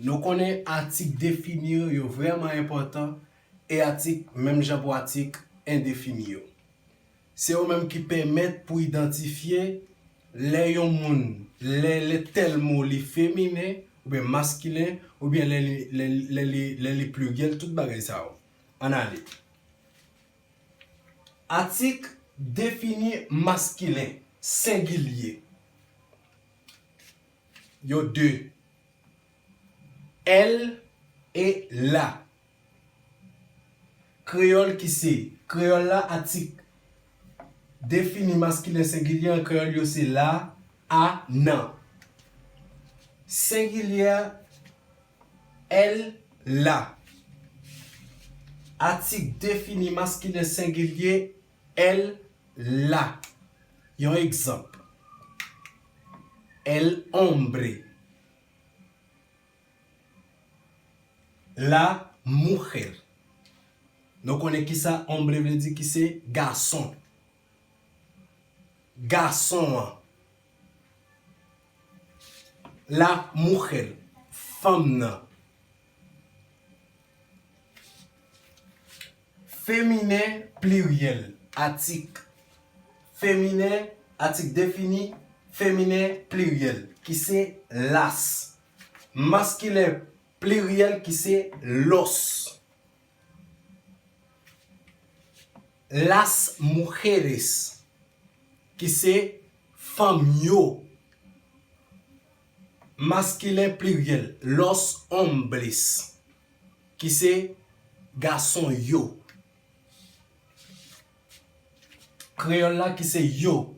Nou konnen atik defini yo vrèman enpòtan e atik menm jan pou atik endefini yo. Se yo menm ki pèmèt pou idantifye lè yon moun lè lè tèl mo li feminen oubyen maskilen oubyen lè li lè li lè li pliryèl tout bagay sa yo. Ann ale. Atik defini maskilen, sengilye. Yo de. L e la. Kreyòl ki se. Kreyòl la atik. Defini maskilen sengilye an kreyòl yo se la, a, nan. Sengilye a, l, la. Atik defini maskilen sengilye L la, yon egzanp, El hombre, la mujer. Nou konnen ki sa hombre vle di ki se gason. Gason an. La mujer, fanm nan. Feminen pliryèl atik feminen atik defini feminen pliryèl ki se las maskilen pliryèl ki se los las mujeres ki se fanm yo maskilen pliryèl los hombres Ki se gason yo. Kreyòl la ki se yo,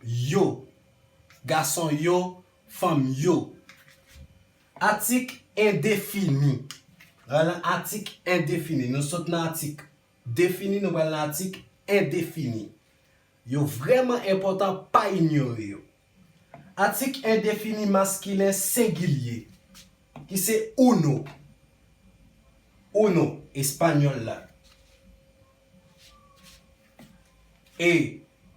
yo. Gason yo, fanm yo. Atik endefini. Nan nan atik endefini. Nou sot nan atik defini, nou pral nan atik endefini. Yo vrèman enpòtan, pa inyore yo. Atik endefini maskilen sengilye, ki se uno, uno, espanyòl la, e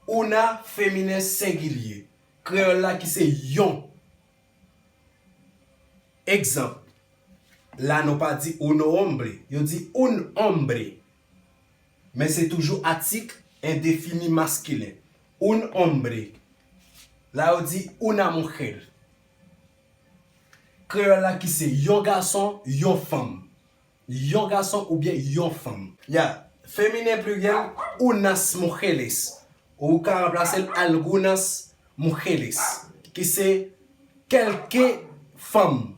una, feminen sengilye, kreyòl la, ki se yon. Egzanp, La nou pa di un hombre, yo di un hombre, Men se toujou atik endefini maskilen, un hombre. La yo di una mujer. Kreyòl la ki se yon gason, yon fanm. Yon gason oubyen yon fanm. Ya, feminen pliryèl, unas mujeres. Ou ka ranplase l algunas mujeres. Ki se kèlke fanm.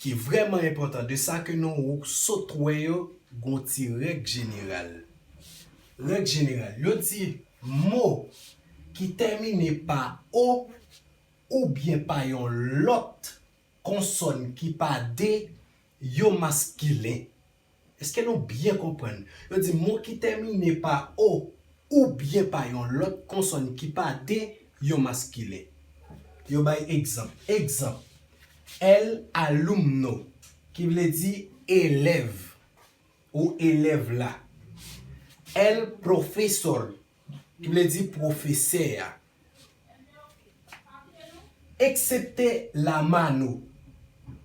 Ki vrèman enpòtan de sa ke nou sot wè yo gon ti règ jeneral. Règ jeneral, yo di mo ki tèmine pa o oubyen pa yon lòt konsòn ki pa de yo maskilen. Eske nou byen konprann? Yo di mo ki tèmine pa o oubyen pa yon lòt konsòn ki pa de yon maskilen. Yo bay egzanp. Egzanp, El alumno, ki vle di elèv ou elèv la. El profesor, ki vle di pwofesè a. Eksepte La Mano.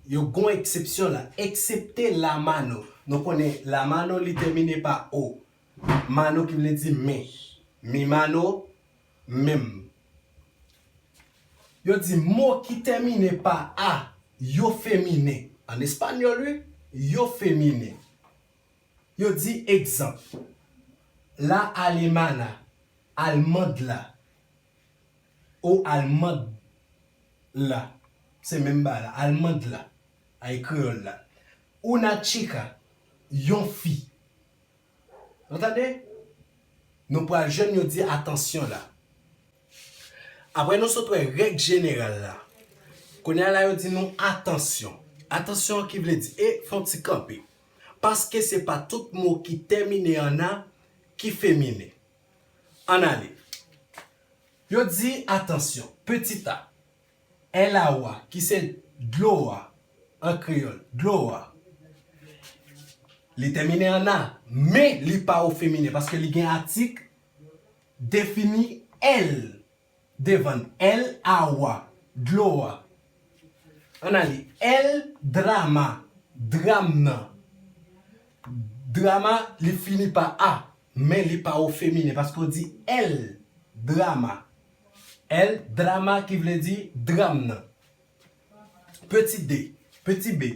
Yo gon eksepsyon la. Eksepte La Mano. Nou konnen La Mano li tèmine pa o. Mano ki vle di men. Mi mano, menm. Yo di mo ki tèmine pa a yo feminen. An espanyòl wi. Yo feminen. Yo di egzanp, La alemana, almand la, o almand la, se menm bagay la, almand la, a e kreyòl la, una chica, yon fi. Nou tande? Nou pral jwenn yo di atansyon la. Apre nou sot wè règ jeneral la, kounye a la yo di nou atansyon. Atansyon ki vle di, e fè yon ti kanpe. paske se pa tout mo ki tèmine an a ki feminen. Ann ale. Yo di, Atansyon, pitit a. Èl a ou a, ki se dlo a, an kreyòl, dlo a, li tèmine an a, men li pa ofeminen, paske li gen atik defini èl Devan el awa, dlo a. Ann ale, el drama, dram nan. Drama li fini pa a, men li pa o feminen paske w di el drama. El drama ki vle di dram nan. Peti de, peti be.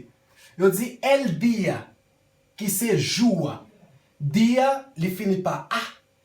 Yo di el dia, ki se jou a. Dia li fini pa a.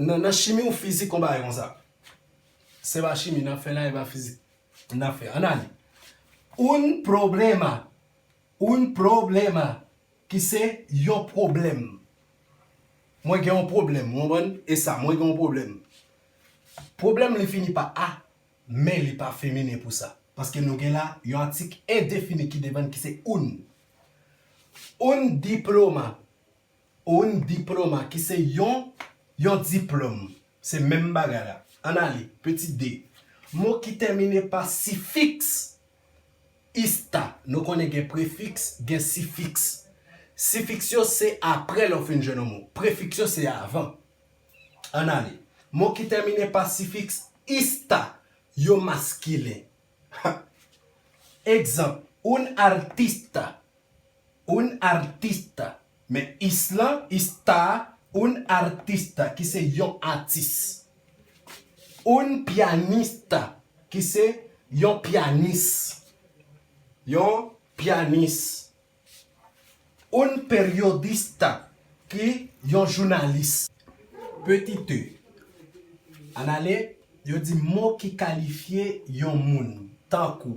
Nan chimi ou fizik yon bagay konsa. Se pa chimi nap fè la e pa fizik nap fè. Ann ale. Un problema, un problema, ki se yon pwoblèm. Mwen gen yon pwoblèm, ou konprann? E sa, mwen gen yon pwoblèm. Pwoblèm li fini pa a, men li pa feminen pou sa. Paske nou gen la yon atik endefini ki devan ki se un. Un diploma. Oun diploma ki se yon yon diplòm. Se menm bagay la. Ann ale. Peti de. Mo ki tèmine pa sifiks. Ista. Nou konnen gen prefiks, gen sifiks. Sifiks yo se apre lè ou fin jwenn yon mo. Prefiks yo se avan. Ann ale. Mo ki tèmine pa sifiks ista yo maskilen. Ha! Egzanp, Un artista Un artista Men isla está un artista ki se yon atis. Un pianista ki se yon pyanis. Yon pyanis. Un periodista ki yon jounalis. Petit e Anale yo di mo ki kalifye yon moun tankou.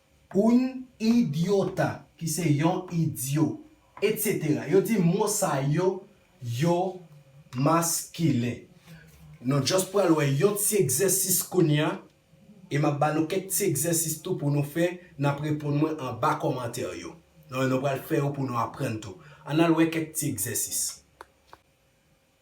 Un idiota, ki se yon idyo, etc. Yo di mo sa yo, yo maskilen. Nou just pral wè yon ti egzèsis kounye a, e m ap ba nou kèk ti egzèsis tou pou nou fè, n ap reponn mwen anba kòmantè yo. Nou pral fè yo pou nou aprann tou. Ann al wè kèk ti egzèsis.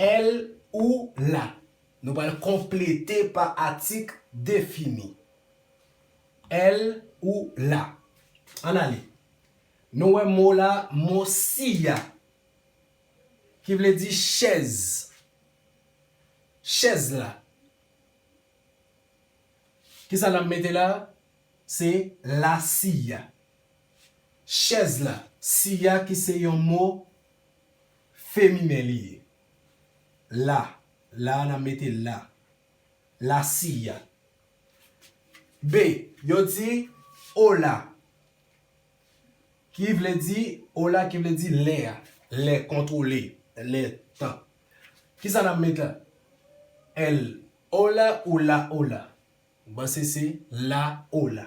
L ou la. Nou pral konplete pa atik defini. L ou la. Ann ale. Nou wè mo la mo siya ki vle di chèz. Chèz la. Ki sa n ap mete la? Se la siya. Chèz la. Siya ki se yon mo Feminen li ye. La, la a n ap mete la. La silla. B, Yo di, Ola. Ki vle di, Ola ki vle di lè a. Lè, kontwole. Lè, tan. Ki sa n ap met la? El ola ou la ola? M panse se la ola.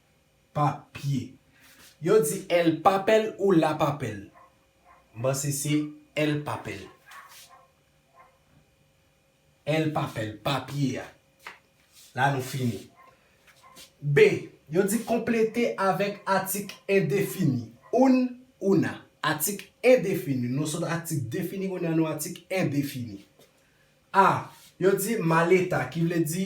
Papye. Yo di el papel ou la papel. M panse se el papel. El papel, papye a. La nou fini. B, Yo di konplete avèk atik endefini. Un, una. Atik endefini. Nou sot atik defini kounye a nou atik endefini. A, Yo di maleta ki vle di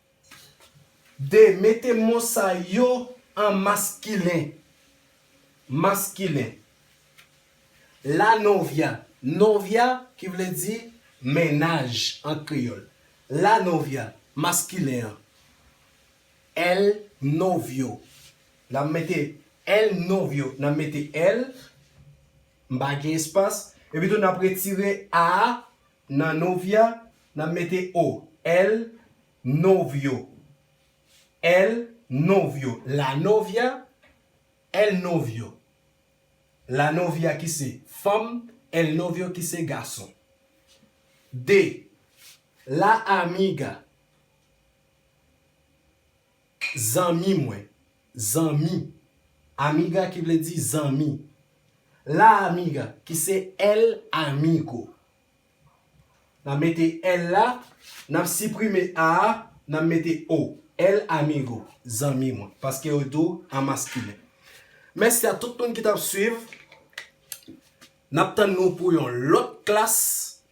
2, Mete mo sa yo an maskilen, maskilen, La novia, novia ki vle di mennaj an kreyòl, la novia, maskilen an, El novio, n ap mete el novio, n ap mete el, m pa gen espas, epitou n ap retire a a, Nan novia, n ap mete o. El novio. El novio. La novia. El novio. La novia ki se fanm, el novio ki se gason. De. La amiga. Zanmi mwen, zanmi. Amiga ki vle di zanmi. La amiga ki se el amigo. N ap mete el la, n ap siprime a a, n ap mete o. El amigo, zanmi mwen. Paske yo di w an maskilen. Mèsi a tout moun ki t ap suiv. N ap tann nou pou yon lòt klas.